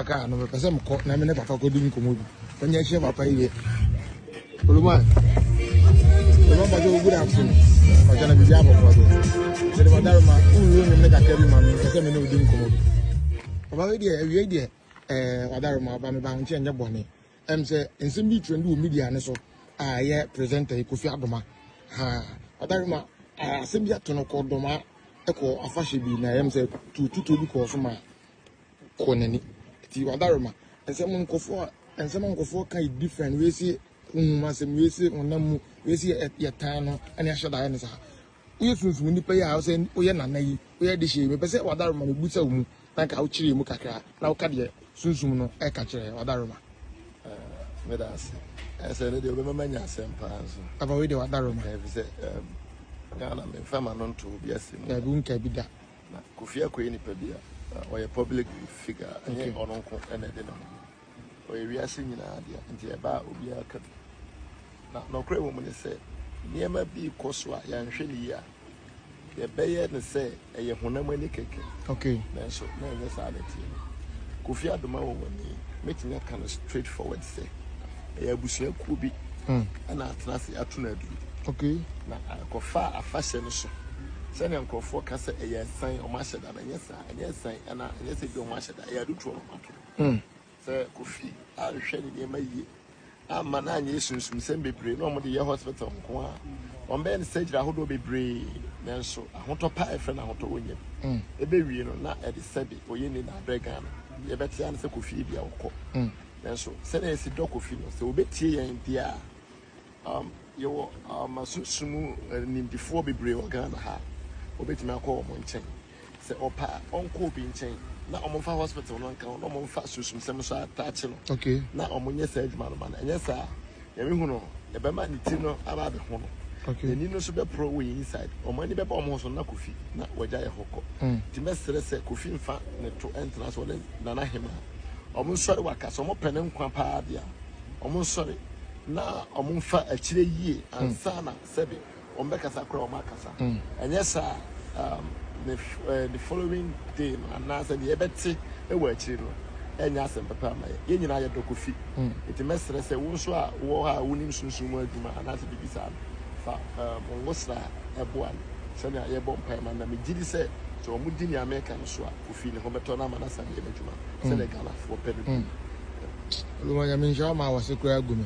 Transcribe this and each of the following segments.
Car no mepɛ sɛ mekɔ na me ne papa kɔdi nkɔmmɔ bi manya ahyia papa yi deɛ oluman oluman papa sɛ good afternoon ɔkyɛ na biribi abɔkɔ so mede madaro ma wowuro nwom ne kakra bi ma me mepɛ sɛ me ne wodi nkɔmmɔ bi papa wei deɛ awiei deɛ ɛɛ wadaro ma ɔba me ba ho nkyɛ nyɛ bɔne ɛm sɛ nsɛm bi trend wɔ media ne so a ɛyɛ presenter yi kofi adoma ha wadaro ma asɛm bi ato no kɔ dɔma ɛkɔ afahyɛ bi na ɛm sɛ tututuo bi kɔɔ so ma kɔ n'ani ti wadaroma nsɛm nkɔfoɔ a nsɛm a nkɔfoɔ ka yɛ different wei si honhom asɛm wei si honam mu wei si yɛ tan no ɛne ahyɛ da ayɛ ne saa woyɛ sunsun nipa yi a ɔsɛ woyɛ nana yi woyɛ de hyɛ mu pɛ sɛ wadaroma no busa wo mu na nka wokyerɛ mu kakra na woka deɛ sunsun no ɛka kyerɛ wadaroma meda ase ɛsɛ ne deɛ wobɛma manya asɛm paa nso aba wei deɛ wadaroma ɛfisɛ ghana memfa ma no nto obi ase mu daabi wonka bi da Na Kofi Akoye yɛ nipa bi a ɔyɛ public figure a ɛnyɛ ɔno nko na ɛde ne ho. Ɔyɛ wiase nyinaa dea nti ɛba a obiara ka bi. Na nɔkorɛ wɔ mu ne sɛ nneɛma bi rekɔ so a yɛanhwɛ no yie a yɛbɛyɛ no sɛ ɛyɛ honam ani kɛkɛ nanso na ɛnyɛ saa na ɛteɛ. Kofi Adomawo wɔ ni mɛtumi aka no straight forward sɛ. ɛyɛ abusua kuo bi hmm. ɛna atena ase ato no aduro okay na akɔfa afahyɛ no so sɛnea nkurɔfoɔ ka sɛ ɛyɛ san wɔn ahyɛ da na ɛnyɛ saa ɛnyɛ san ɛna ɛnyɛ sɛ bi wɔn ahyɛ da ɛyɛ adutoɔ na wɔn ato hmm. sɛ kofi anhwɛ ne nneɛma yie ama na anyɛ sunsunsɛm bebree na wɔn de yɛ hospital nko a wɔn bɛyɛ no surgery ahodoɔ bebree nanso ahotɔ pa a ɛfrɛ no ahotɔ wɔn nyam hmm. ɛbɛwie no na ɛde sɛbe ɔyɛ ni na abrɛ ghana yɛbɛte ano sɛ kofi bi a wɔkɔ. Nanso, sɛnea yɛasi dɔ Kofi no, sɛ obetie yɛn de a, um yɛwɔ um sunsum mu nimdefoɔ bebree wɔ Ghana ha a obetumi akɔ wɔn nkyɛn. Sɛ ɔpɛ a, ɔnkɔ obi nkyɛn na wɔmfa hospital no nka ho na wɔmfa sunsumsɛm nso atakye no, na wɔnyɛ saa adwuma no mma no. Ɛnyɛ saa a, Nyame hu no na ɛbɛma ne ti no aba abɛho no n'ani no nso bɛporɔ wɔ yɛn inside wɔn ani bɛba wɔn ho so na Kofi na wagya yɛ hɔ kɔ nti mɛsrɛ sɛ Kofi nfa ne to ntena ase ɔne Nana Hemaa wɔn nsɔre waka sɛ wɔpɛ ne nkwa paa deɛ a wɔn nsɔre na wɔn nfa akyire yie ansa na sɛbe Wɔbɛkasa koraa a, wɔakasa. Ɛnyɛ saa a, um, ne, uh, the following day no, anaasɛ deɛ yɛbɛte wɔ akyiri no, ɛnyɛ asɛm papa ama yɛn. Yɛn nyinaa yɛdɔ Kofi. Mm. Nti mɛsrɛ sɛ wo nso a wowɔ hɔ a wonim sunsum mu adwuma anaasɛ biribi saa no, fa um, wo sra boa no sɛnea yɛbɔ mpaeɛ ma no. Na megye di sɛ sɛ wɔdi nea meka no so a, Kofi ne ho bɛtɔ no ama no asan yɛ n'adwuma sɛdeɛ mm. Ghanafoɔ pɛ no bi. Mm. Luma nyame nhyira ma wase koraa gu me.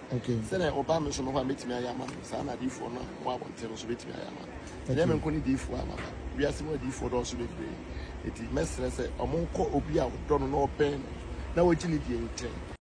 Okay. Sɛdeɛ ɔbaa me nso no hɔ a mɛtumi ayɛ ama no saa na adiifoɔ no a wɔwɔ abɔnten no nso bɛtumi ayɛ ama no. Ɛnyɛ me nko ne diifoɔ a maba. Wiase mu adiifoɔ dɔɔso bebree. Enti mɛsrɛ sɛ wɔnkɔ obi a wɔdɔ no na wɔbɛn no na wɔgye no die nkyɛn.